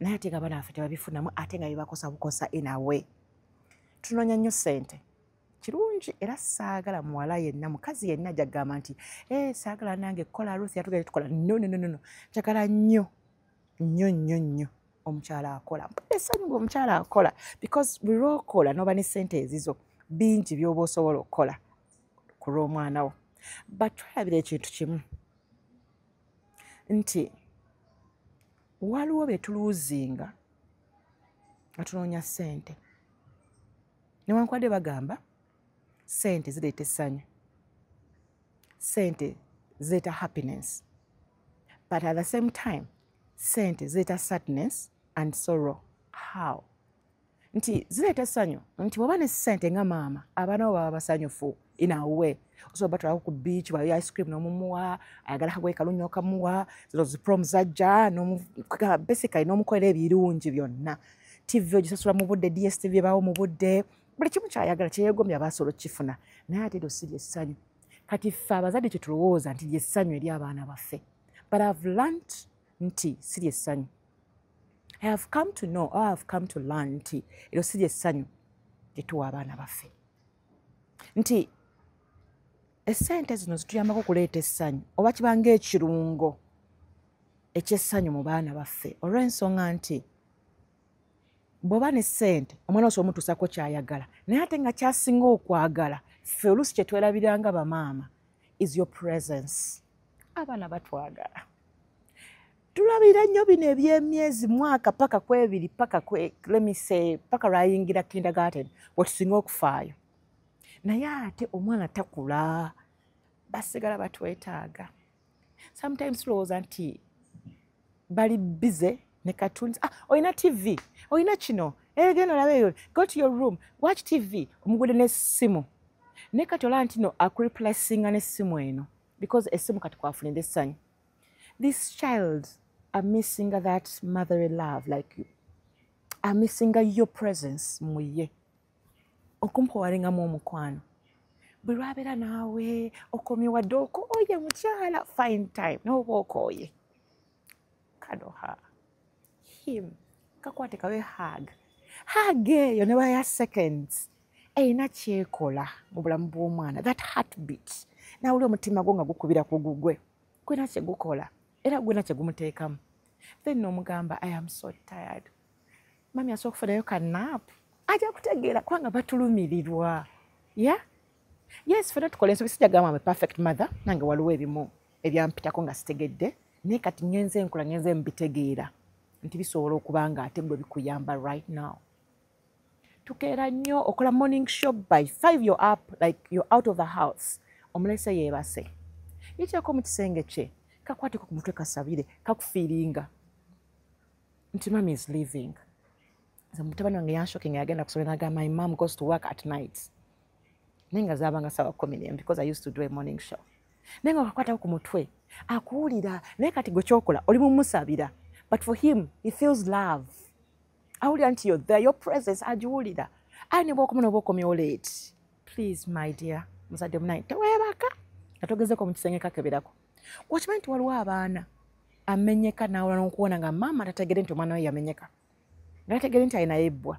naye ate nga banafe tebabifunamu ate nga bibakosa bukosa inawe tunonya nnyo sente kirungi era saagala muwala yenna mukazi yenna jagamba nti eh, saagala nange kukola ruth yatugere tukola nononono njagala nnyo nnyo nnyo nnyo omukyala akola esanyu nga omukyala akola because bulwokola noba ne sente ezizo bingi byoba osobola okukola ku lw'omwana wo batwalabira ekintu kimu nti waliwo betuluuzinga nga tunoonya ssente newankubadde bagamba ssente zireeta essanyu ssente zireeta happiness but at the same time ssente zireeta sadness and sorrow how nti zireeta essanyu nti bwoba ne ssente nga maama abaana bo baba basanyufu inawe osobola batwalako ku beach bayo ice cream nomumuwa ayagala kagoye kalunyo kamuwa zino ziprom zajja basically nomukolera ebirungi byonna tv ogisasula mu budde dstv ebaawo mu budde buli kimu kyayagala kyeyegomya basobola okukifuna naye ate eryo si lyessanyu kati ffe abazadde kyetulowooza nti lyessanyu eri abaana baffe but ive learnt nti si lyessanyu i have come to know or i have come to learn nti eryo si lyessanyu lyetuwa abaana baffe nti esente zino zituyambako okuleeta essanyu oba kibanga ekirungo ekyessanyu mu baana baffe olw'ensonga nti bw'oba ne ssente omwana oso omutuusako kyayagala naye ate nga kyasinga okwagala ffe oluusi kye twerabiranga bamaama is your presence abaana batwagala tulabira nnyo bino ebyemyezi mwaka paka kwebiri paka lemise paka lwayingira kindergarten wetusinga okufaayo naye ate omwana takula basigala batwetaaga sometimes tulowooza nti bali bize ne cartoons ah, olina tv olina kino egenda eh, olaba eyo go to your room watch tv omugude n'essimu naye kati olaba ntino akureplacinga n'essimu eno because essimu kati kwafunira essanyu This child are missing that motherly love like you. Are missing your presence mu ye. Okumpowalingamu omukwano. Bwe lwabeera naawe okomye wadde okooye mukyala fine time nooba okooye. Kano ha him kakwate kawe hug. Hug eyo ne baya seconds. Eyina kyekola mu bulamu bw'omwana that heartbeat. Nawulira omutima gwo nga gukubira ku gugwe. gwena kyegukola era gwena kyegumuteekamu then nomugamba i am so tired mami asobola okufunayo kanap ajja kutegeera kubanga batulumirirwa ya yes fena tukola ensobi sijagamba ame perfect mother nange waliwo ebimu ebyampitako nga sitegedde naye kati ngenze enkola ngenze mubitegeera nti bisobola okuba nga ate gwe bikuyamba right now tukeera nnyo okola morning show by 5 your up like you're out of the house omulese yeebase yikyeko mu kisenge kye kakwateko ku mutwe kasabire kakufiiringa nti mami is living mutabani wange yanshoking agenda kusoma naga my mom goes to work at night naye nga zaabanga sawa kumi nemu because i used to do a morning show naye nga wakakwatako ku mutwe akuwulira naye kati gwe kyokola oli mumusabira but for him he feels love awulira nti yo the your presence agiwulira aye ne bwokomu noba okomyewo late please my dear muzadde munaye tewebaka nga togezeko mu kisenge kakeberako okimanyi nti waliwo abaana amenyeka nawula nokuwona nga maama tategere nti omwana we yamenyeka nategere nti ayinayo ebbwa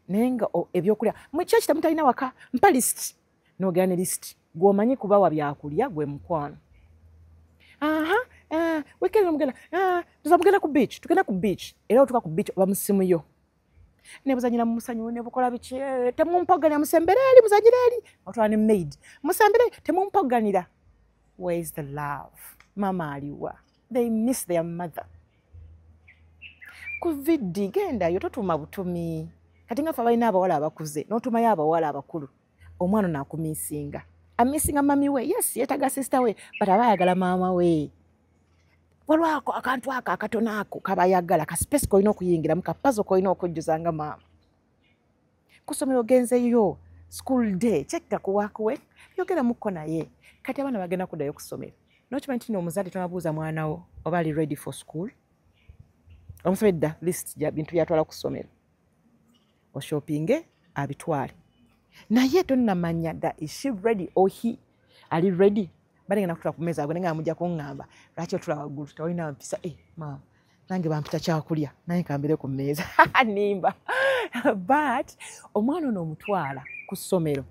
naye nga ebyokulya mukyaki temutalina waka mpa list nogera ne list gwomanyi kubawa byakulya gwe mukwano aha eh, weekend mugenda eh, tuza mugenda ku beach tugenda ku beach era otuka ku beach oba musimu yo nebuzanyira mumusanyu nebukola biki eh, temumpoganira musembere eri muzanyira eri otwala ne maid musembere temumpoganira where is the love mama aliwa they miss their mother ku vidi gendayo totuma butumi kati nga fe abalina abawala abakuze notumayo abawala abakulu omwana ono akumisinga amisinga mami we yes yetaga sister we but aba ayagala maama we walwako akantu ako akatono ako kaba ayagala ka space kolina okuyingiramu ka pazo kolina okujjuza nga maama kusomero ogenzeyo school day kyekka kuwakuwe yogera mukko naye kati abaana bagenda kuddayo kusomero nokimanyi tino omuzadde tonabuuza mwana wo oba ali ready for school omusobedda list bintu byatwala kusomero oshopinge abitwale naye tonamanya da ishi ready ohi oh, ali ready bali ngenda kutula ku meza agwe nga amuja kungamba lwaki otula wagulu tawina mpisa eh mama nange bampita kyakulya naye kambire ku meza nimba but omwana ono omutwala ku ssomero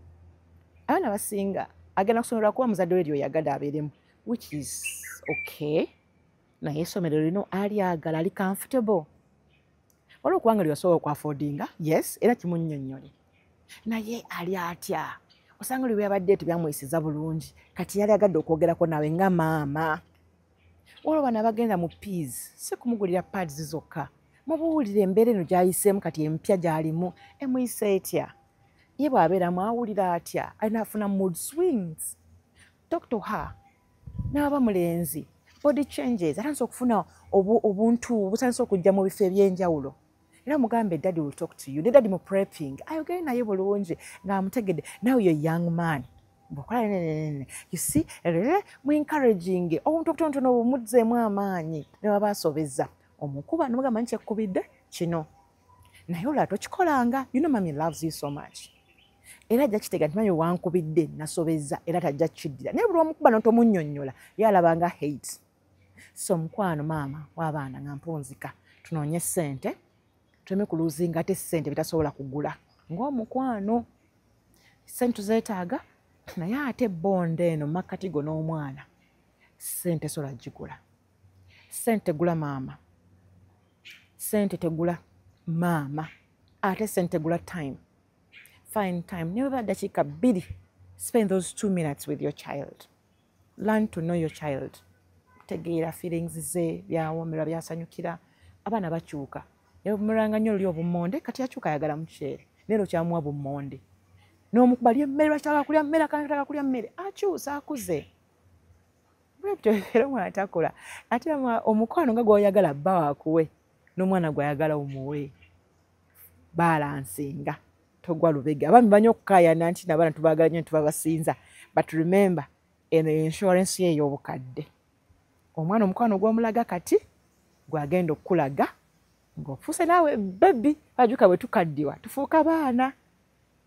abaana basinga agenda kusomero lwakuba muzadde we lyo yagade abeeremu which is okay naye esomero lino ali agala ali comfortable waliwo okuba nga lyewasobola okwafodinga yes era kimunyonyole naye ali atya osanga lwe byabadde tebyamuyisiza bulungi kati yali agadde okwogerako nawe nga maama waliwo bana abagenda mu peas si kumugulira pads zokka mubuwulire embeera eno gyayiseemu kati empya gyalimu emuyisa etya ye bw'abeeramu awulira atya alina afuna mood swings talk to her n'aba mulenzi body changes atandise okufuna obuntu butandise okujja mu bifo eby'enjawulo era mugambe daddy will talk to you ne daddy mu prepping ayogere naye bulungi ng'amutegedde now yo young man bwokola nenenene you see rere mu encouraging obuntu obutonotono obumudzeemu amaanyi ne baba asobeza omukuba nomugamba nti ekkubidde kino naye olwa tokikolanga you know mami loves you so much era ajja kitega nti mami wankubidde nasobezza era tajja kiddira naye buli omukuba notomunyonyola ye alabanga hate so mukwano maama wabaana nga mpunzika tunoonye ssente tuleme kuluzinga ate ssente bitasobola kugula ngaomukwano ssente tuzeetaaga naye ate bonda eno makkati go n'omwana ssente sola gigula sente gula maama sente tegula maama ate sente gula time fine time newe ba dakika bili spend those two minutes with your child learn to know your child tegeera feelings ze byawomera byasanyukira abaana bakyuka yamulanga nyo lyo bumonde kati akyuka ayagala mukyere nero kyamuwa bumonde nomukuba lye mmere lwakitaka kulya mmere akanataka kulya mmere akyusa akuze bwebityoera omwana takola ate omukwano nga gwoyagala bba wakuwe n'omwana gwayagala omuwe balansinga togwa lubega abaami banyo okukayana nti nabaana tubagala nyo nitubabasinza but remember eno insurance ye ey'obukadde omwana omukwano gwomulaga kati gwagenda okukulaga ng'ofuuse naawe bebi bajuka bwe tukaddiwa tufuuka baana